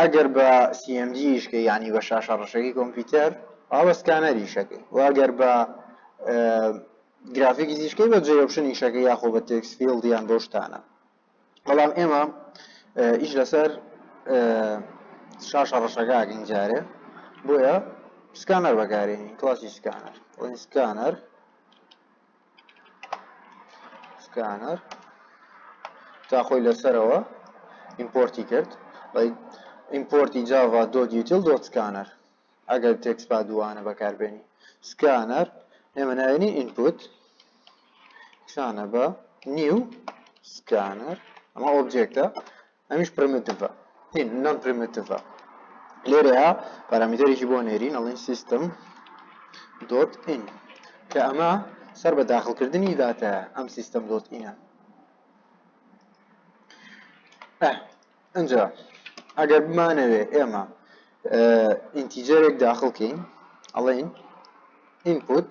ئەگەر بە CMD یش کەی یانی بە شاشە ڕەشەکی کۆمپیوتەر ئەوا بە سکانەر یش ئەکەی وە ئەگەر بە گرافیکس یش کەی بە جێ ئۆپشن یش ئەکەی یاخۆ بە تێکس فیڵد یان بەو شتانە بەڵام ئێمە ئیش لەسەر شاشە ڕەشەکە ئەکەین جارێ بۆیە سکانەر بەکارێنین کلاسی سکانەر ئەوین سکانەر سکانەر تا خۆی لەسەرەوە ئیمپۆرتی کرد بەڵی ئیمپۆرتی جاوا دۆت یوتیل دۆت سکانەر ئەگەر تێکس با دووانە بەکاربێنی سکانەر ئێمە ناوێنی ئینپوت سانە بە نیو سکانەر ئەمە ئۆبجێکتە ئەمیش پرمتڤە هین نۆن پرمتڤە لێرەیە پارامیتەرێکی بۆ نێرین ئەڵین سیستم دۆت ئین کە ئەمە سەر بە داخلکردنی داتە ئەم سیستم دۆت ئینە ئەجا ئەگەر بمانەوێ ئێمە ئینتیجەرێک داخلکەین ئەڵین ئینپوت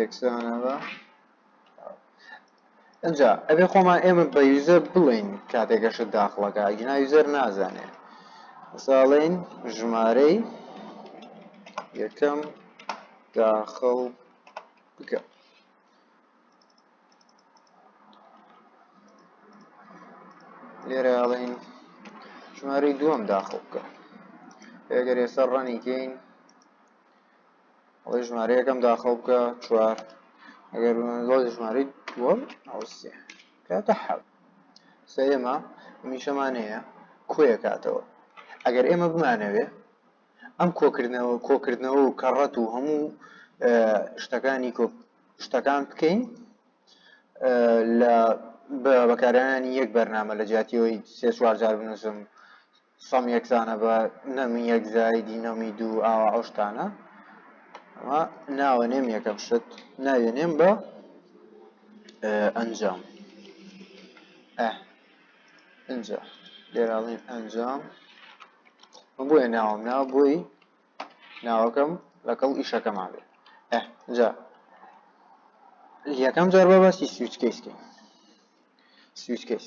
یەکسانە بە ئەجا ئەبێ خۆمان ئێمە بە یوزەر بڵین کاتێکەشە داخڵەکە ئەگینا یوزەر نازانێ ساڵین ژمارەی یەکەم داخڵ بکە لێرە ئەڵین ژمارەی دووەم داخڵ بکە ئەگەر ێستا ڕەنیکەین ئەڵێ ژمارە یەکەم داخڵ بکە چوار ئەگەر بمەندڵی ژمارەی دووەم ئەوسێ کاتە حەب سە ئێمە میشەمان هەیە کۆیە کاتەوە ئەگەر ئێمە بمانەوێ ئەم کۆکردنەوە کۆکردنەوە و کەڕەت و هەموو شتەکانی شتەکان بکەین لە بەکارانانی یەک بەرنامە لە جیاتیەوەی سێ چوارجار بنووسم سەم یەکسانە بە نەمی یەک زایدی نەمی دوو ئاوا ئەو شتانە ئەمە ناوە نێم یەکەم شت ناوێ نێم بە ئەنجام ئەجا لێراڵین ئەنجام بۆیە ناوم ناو بۆی ناوەکەم لەگەڵ ئیشەکەمان بێ ئەجا یەکەم جار بەباستی سوچکەیسکە سوچکەیس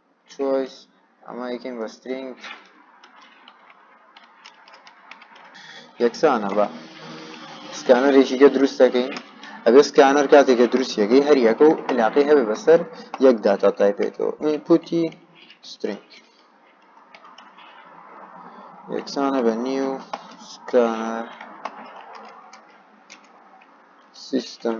چۆیس ئەمە یکەین بە سترینگ یەکسانە بە سکانەرێکی گە دروست دەکەین ئەبێ سکانەر کاتێکە دروستیەکەی هەریەکە و علاقی هەبێ بەسەر یەک داتا تایپێکەوە ئینپوتی سترینگ یەکسانە بە نیو سکانەر سیستم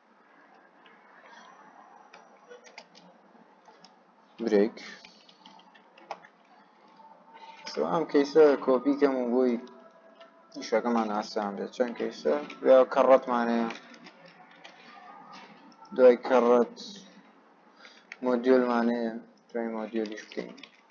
برێک ئەم کەیسە کۆپی کەم و بۆی شەکەمان ئاسان بێت چەند کەیسە یا کەڕەتمانەیە دوای کەڕەت مۆدیۆلمانەیە دوای مۆدیۆلیش بکەین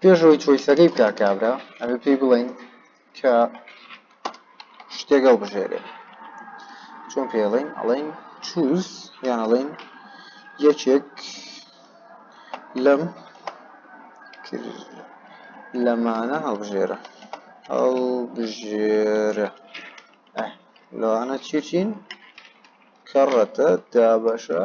پێش ئەوەی چۆیسەکەی بکا کابرا ئەبێ پێی بڵێین کە شتێک هەڵبژێرێ چۆن پێ ئەڵێین ئەڵێین چوز یان ئەڵێین یەکێک لەم لەمانە هەڵبژێرە هەڵبژێرە لەوانە چی چین کەڕەتە دابەشە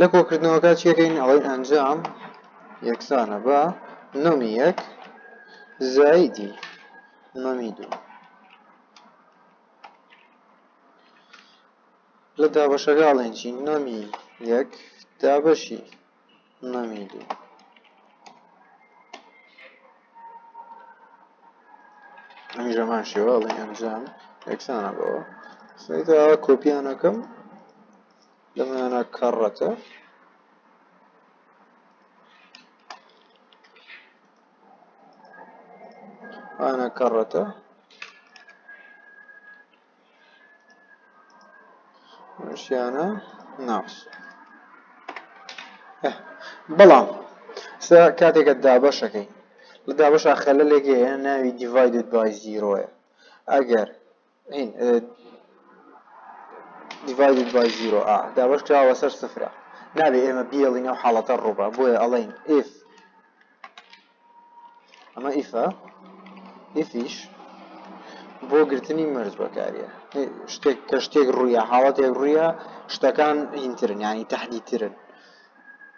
لە کۆکردنەوەکە چیەکەین ئەڵێن ئەنجام یەکسانە بە نۆمی یەک زایدی نۆمی دوو لە دابەشەکە ئەڵێن چی نۆمی یەک دابەشی نمیدی ئەنجامان شێوە ئەڵێ ئەنجام یەکسانە بەوە سەیدا کۆپیانەکەم لەمانە کەڕەتە ئانا کەڕەتە ژیانە ناوس بەڵام سا کاتێکە دابەشەکەی لە دابەش ئاخەلە لێگەیە ناوی دیڤایدد بای زیرۆیە ئەگەر دیڤایدد بای زیرۆ ئا دابەش کراوە سەر سفرە نابێ ئێمە بیڵین ئەو حاڵەتە ڕووبە بۆیە ئەڵین ئف ئەمە ئیفە ئیفیش بۆ گرتنی مەرج بەکاریە شتێک کە شتێک ڕوویە حاڵەتێک ڕوویە شتەکان هینترن ینی تهدیترن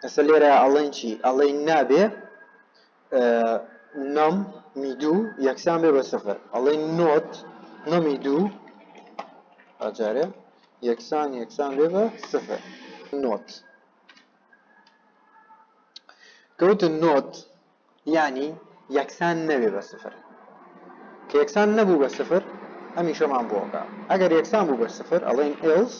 ئەسە لێرە ئەڵێن چی ئەڵێ نابێ نم میدوو یەکسان بێ بە سفر ئەڵێ نۆت نمی دوو ئاجارێ یەکسان یەکسان بێ بە سفر نۆت کە وتن نۆت یانی یەکسان نەبێ بە سفر کە یەکسان نەبوو بە سفر ئەمیشەمان بۆکە ئەگەر یەکسان بوو بە سفر ئەڵێن ئێلس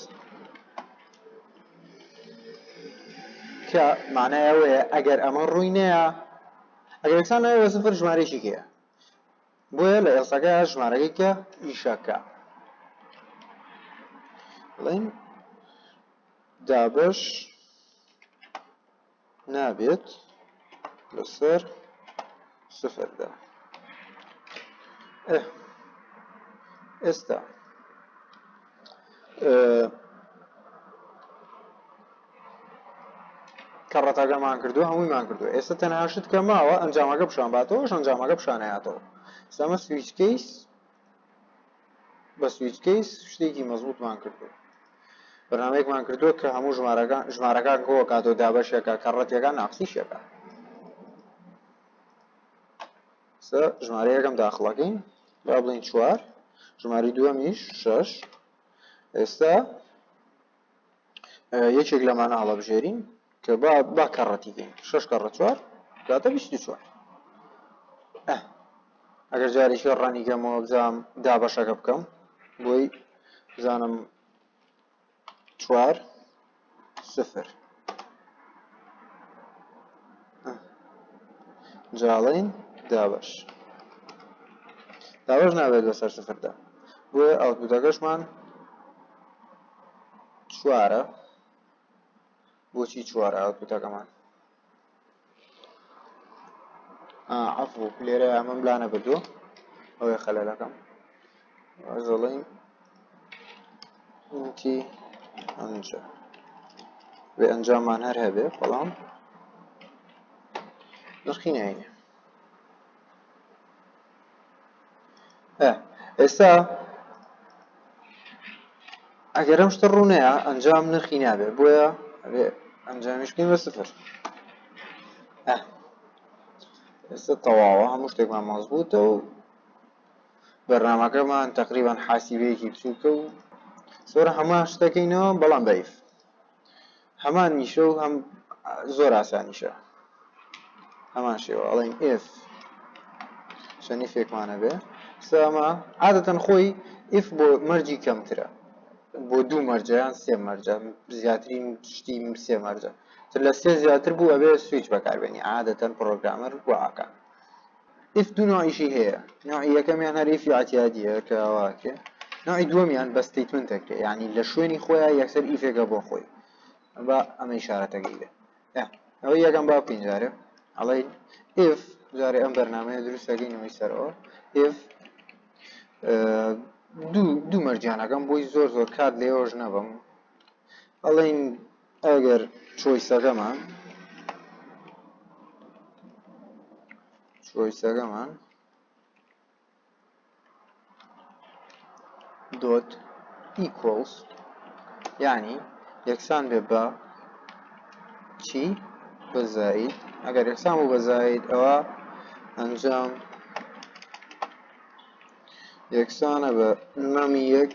کە مانایەوەیە ئەگەر ئەمە ڕووی نەیە ئەگەر یەکسان نەبێ بە سفر ژمارەیەکی هەیە بۆیە لە ئێڵسەکە ژمارەکەی کە ئیشەکە بڵین دابش نابێت لەسەر سفردا ئێستا کە ڕەتەکەمان کردووە هەموویمان کردووە ئێستا تەنها شت کە ماوە ئەنجامەکە پیشان باتەوەش ئەنجامەکە پیشانەیاتەوە سەمە سویچ کەیس بە سویچ کەیس شتێکی مەزبوتمان کردووە بەنامەیەکمان کردووە کە هەموو ژمارەکان ژمارەکان گۆ کاتۆ دابەشێکە کە ڕەتیەکان ناقسیشێکە ژمارە یەکەم داخڵەکەین با بڵین چوار ژماری دووەمیش شش ئێستا یەکێک لەمانە هەڵەبژێرین کە با با کەڕەتی بین شش کەڕە چوار داتە بیست و چوار ئەگەر جارێکی ڕەنی گەمەوە بزانام دابەشەکە بکەم بۆی بزانم چوار سفر جاڵین دابش دابش نابێت بەسەر سفردا بۆیە ئەوتبووتەکەشمان چوارە بۆچی چوارە ئەوتوتەکەمان عفو لێرە ئەمەم لا نەبردو ئەوەی خەلەلەکەم زڵین تی ئەنجا بێ ئەنجامان هەر هەبێ بەڵام نرخی ناینە ئێستا ئەگەر ئەم شتە ڕوونەیە ئەنجام نرخی نابێ بۆیە ئەنجامیشکین بە سفر ئێستا تەواوە هەموو شتێکمان ماز بووتە و بەرنمەکەمان تقریبان حاسیبەیەکی بچووکە و سۆرە هەمان شتەکەینەوە بەڵام بەیف هەمان نیشە و هەم زۆر ئاسانیشە هەمان شێوە ئەڵین ئف شەنی فێکمانە بێ سامە عادەتەن خۆی ئف بۆ مەرجی کەمترە بۆ دوو مەرجیان سێ مەرجە زیاترین شتی سێ مەرجە تر لە سێ زیاتر بوو ئەبێ سویچ بەکاربێنی عادەتەن پرۆگرامەر وعاکە ئیف دوو نوعیشی هەیە نوعی یەکەمیان هەر ئیفی عتیادیە کە واکرێ نوعی دووەمیان بە ستیتمنت دەکرێت یعنی لە شوێنی خۆیان یەکسەر ئیفێکە بۆ خۆی با ئەمە شارەتەکەی بێ ئەوە یەکەم با بکەین جارێ ئەڵێ ئف جارێ ئەم بەرنمەیە دروستەکەینەوەی سەرەوە ئف دوو دوو مەرجیانەکەم بۆی زۆر زۆر کات لێۆژ نەبم ئەڵێین ئەگەر چۆیسەکەمان چۆیسەکەمان دۆت ئیکۆڵس یعنی یەکسان بێ بە چی بە زاید ئەگەر یەکسان بوو بە زاید ئەوە ئەنجام یەکسانە بە نەمی یەک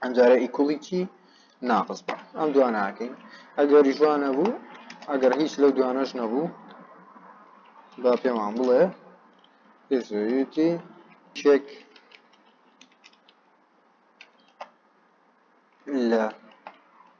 ئەم جارە ئیکوڵیکی ناقص بە ئەم دواناکەین ئەگەری جوان نەبوو ئەگەر هیچ لەو دوانەش نەبوو با پێمان بڵێ پێزویتی چێک لە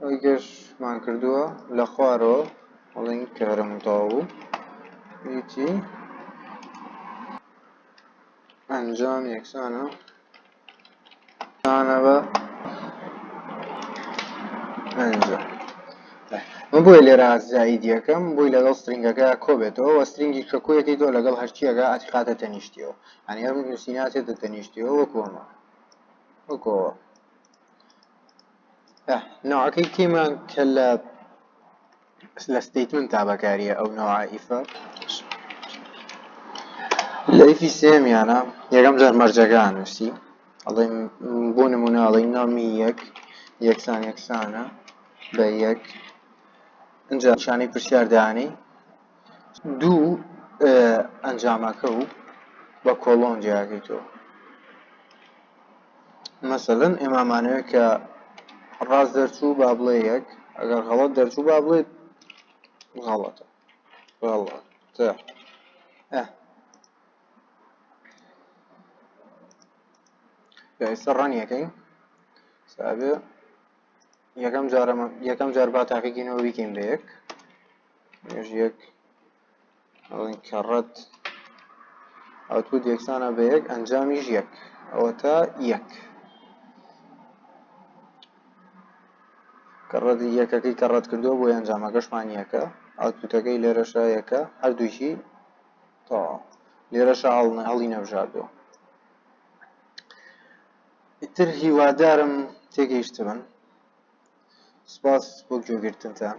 ئەوەی گەشمان کردووە لە خوارەوە بڵین کە هەرمون تەوا بوو هیچی ئەنجام یەکسانە تانە بە ئەنجام من بۆی لێرە زایدیەکەم بۆی لەگەڵ سترنگەکە کۆبێتەوە وە سترنگی کە کۆیەکەی تۆ لەگەڵ هەرچیەکە ئەتیقاتە تەنیشتیەوە یانی ئەم نووسینە هاتێتە تەنیشتیەوە وەکو ئەمە وەکو ئەوە ناوەکەی کێمان کە لە لە ستیتمن تا بەکاریە ئەو ناوائیفە لەیفی سێمیانە یەکەم جار مەرجەکان نووسی ئەڵێم بۆ نمونە ئەڵی نامی یەک یەکسان یەکسانە بە یەک ئەجا شانەی پرسیاردانی دوو ئەنجامەکە و بە کۆڵۆن جیاکەیتەوە مەسەلەن ئێمامانەوێت کە ڕاست دەرچوو با بڵێ یەک ئەگەر غەڵەت دەرچوو با بڵێت غەڵەتە غەڵەتە ئێستا ڕەنیەکەین سابێ یەکەم جارەمە یەکەم جار با تاقیکەینەوە بیکەین بە یەک مێژ یەک ئەڵین کە ڕەت ئەوتود یەکسانە بە یەک ئەنجامیش یەک ئەوەتا یەک کە ڕەت یەکەکەی کە ڕەت کردو بۆ ئەنجامەکەشمان یەکە ئەوتوتەکەی لێرەشە یەکە هەردووشی تا لێرەشە هەڵنە هەڵی نەبژاردو ئیتر هیوادارم تێگەیشتبن سپاس بۆ گوێگرتنتان